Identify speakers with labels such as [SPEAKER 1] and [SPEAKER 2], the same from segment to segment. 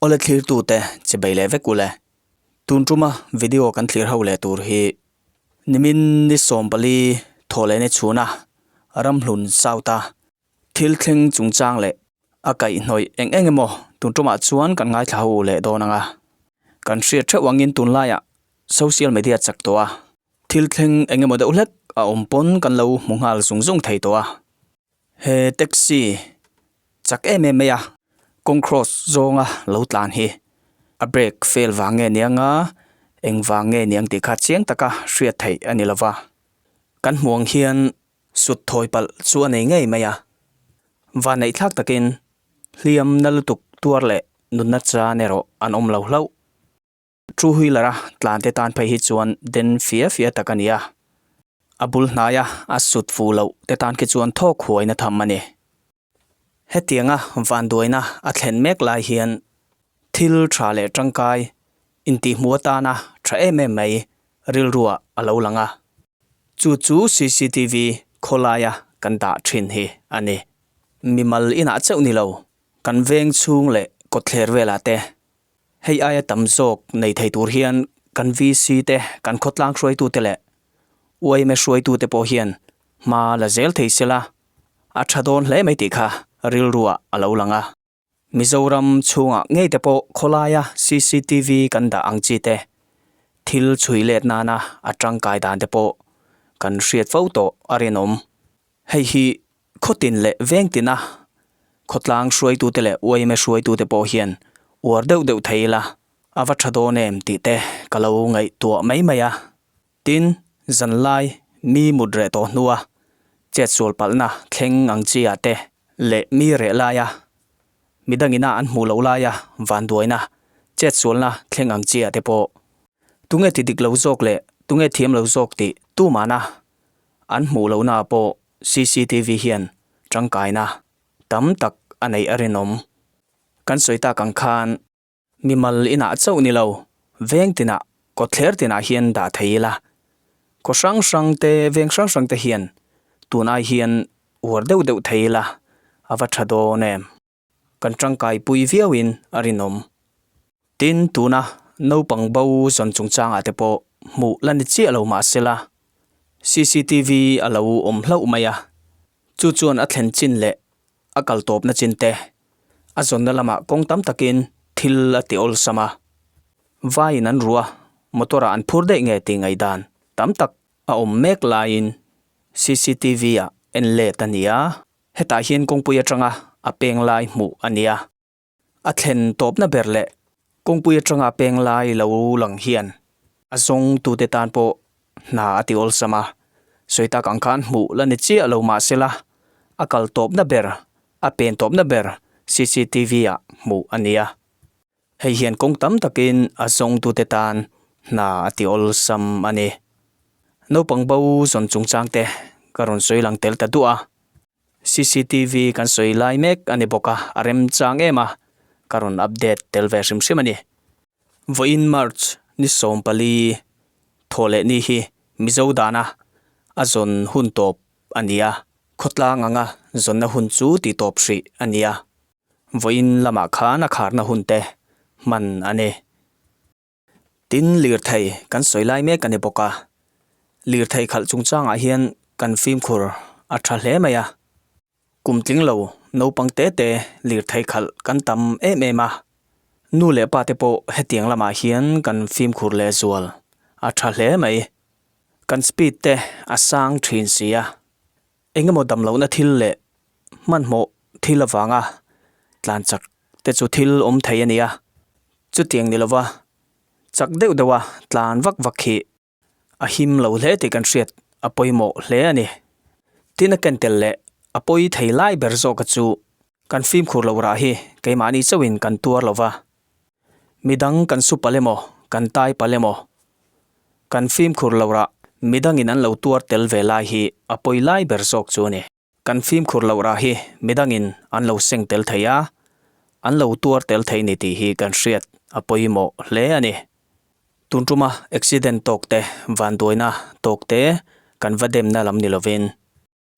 [SPEAKER 1] Awle thlirtu te chibei leh vek ule. Tun tuma video kan thlir ho leh tur hi nimin ni sawmpali thaw leh ni chhuna ramhlun south a. Thil thleng chungchang leh a kaihnawih eng eng emaw tun tawmah chuan kan ngaithla ho leh dawn ang a, kan hriat theuh angin tunlaiah social media chak tawh a thil thleng eng emaw deuh hlek a awm pawn kan lo hmu nghal zung zung thei tawh a, he taxi chak em em mai a kawng cross zawnga lo tlan hi a brake fail vang nge niang a, eng vang nge niang tih kha chiang taka hriat theih a ni lova, kan hmuh ang hian Sut thawi palh chu a nei ngei mai a. Vaneihthlak takin hliam na lutuk tuar leh nunna chhan erawh an awm lo hlauh. Two wheeler-a tlante tan phei hi chuan den fia fia tak a ni a, a bul hnaia a sut fu loh te tan khi chuan thawk huaina tham a ni. Hetianga vanduaina a thlen mek lai hian thil tha leh tangkai intihmu atana tha em em mai rilrua a lo lang a, chu chu cctv khawlaia kan dah thin hi a ni. Mimal inah chauh ni lo, kan veng chhung leh kawtthler velah te hei aia tam zawk nei thei tur hian kan VC te, kan khawtlang hruaitute leh YMA hruaitute pawh hian hma la zel thei se la, a tha dawn hle mai tih kha rilruah a lo lang a. Mizoram chhungah ngei te pawh khawlaia cctv kan dah ang chi te, thil chhui let nana a tangkai dan te pawh kan hriat fo tawh a rinawm. Hei hi khawtin leh vengtin a, khawtlang hruaitute leh uaime hruaitute pawh hian uar deuh deuh thei ila a va tha dawn em tih te ka lo ngaihtuah mai mai a, Tin, zanlai mi mut reh tawh hnua chetsual palhna thleng ang chia te leh mi reh laia mi dangina an hmuh loh laia vanduaina chetsualna thleng ang chia te pawh tunge ti dik lo zawk leh tunge thiam lo zawk tih tumana an hmuh lohna pawh cctv hian tangkaina tam tak a neih a rinawm. Kan sawi tak ang khan. Mimal inah chauh ni lo, veng tinah, kawtthler tinah hian dah thei ila, kaw hrang hrang te, veng hrang hrang te hian tunai hian uar deuh deuh thei ila a va tha dawn em. Kan tangkai pui viau in a rinawm. Tin, tuna naupang bo zawn chungchangah te pawh hmuh la ni chiah lo mah se la, CCTV a lo awm hlauh mai a, chu chuan a thlen chin leh a kal tawpna chinte, a zawnna lamah kawng tam takin thil a ti awlsam a, vaiin an rua, motor-ah an phur daih nge tih ngaihdan tam tak a awm mek laiin CCTV-ah en let a nia. Hetah hian kawngpui atanga a peng lai hmuh a nia. a thlen tawpna ber leh kawngpui atanga peng lai lo lang hian a zawng tute tan pawh hna a ti awlsam a, sawi tak ang khan hmuh la ni chiah lo mahsela a kal tawpna ber, a pen tawpna ber cctv ah hmuh a nia. Hei hian kawng tam takin a zawng tute tan hna a ti awlsam a ni. Naupang bo zawn chungchang te ka rawn sawi lang tel ta duah a. CCTV kan sawi lai mek a ni bawk a, a rem chang em a, ka rawn update tel ve hrim hrim a ni. Vawiin March ni sawm pali thaw leh ni hi Mizo dana a zawn hun tawp a ni a, khawtlang anga zawnna hun chu tih tawp hrih a ni a, vawiin lamah khan a kharna hun te hman a ni. Tin, lirthei kan sawi lai mek a ni bawk a, lirthei khalh chungchangah hian kan fimkhur a tha hle mai a, kum tling lo naupang te te lirthei khalh kan tam em em a, nu leh pa te pawh hetiang lamah hian kan fimkhur leh zual a tha hle mai, kan speed te a sang thin si a, Engemaw damlohna thil leh hmanhmawh thil avanga tlan chak te chu thil awm thei a nia. Chutiang ni lova chak deuh deuha tlan vak vak hi a him lo hle tih kan hriat a pawimawh hle a ni. Tina ken tel leh a pawi thei lai ber zawka chu Kan fimkhur loh rah hi keimahni chauhin kan tuar lo va, midang kan su palem aw, kan tai palem aw, kan fimkhur loh rah midangin an lo tuar tel ve lai hi a pawi lai ber zawk chu a ni. Kan fimkhur loh rah hi midangin an lo seng tel thei a, an lo tuar tel thei ni tih hi kan hriat a pawi mawh hle a ni. Tun tuma accident tawkte, vanduaina tawkte kan va demna lam ni lovin,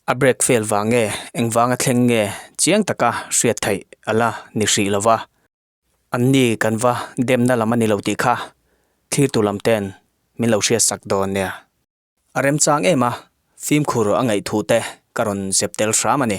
[SPEAKER 1] A break fail vang nge, engvang a thleng nge chiang taka hriat theih a la ni hrih lo va, anni kan va demna lam a ni lo tih kha thlir tur lam ten min lo hriat sak dawn nia. A remchang em a, fimkhur a ngaih thu te ka rawn zep tel hram a ni.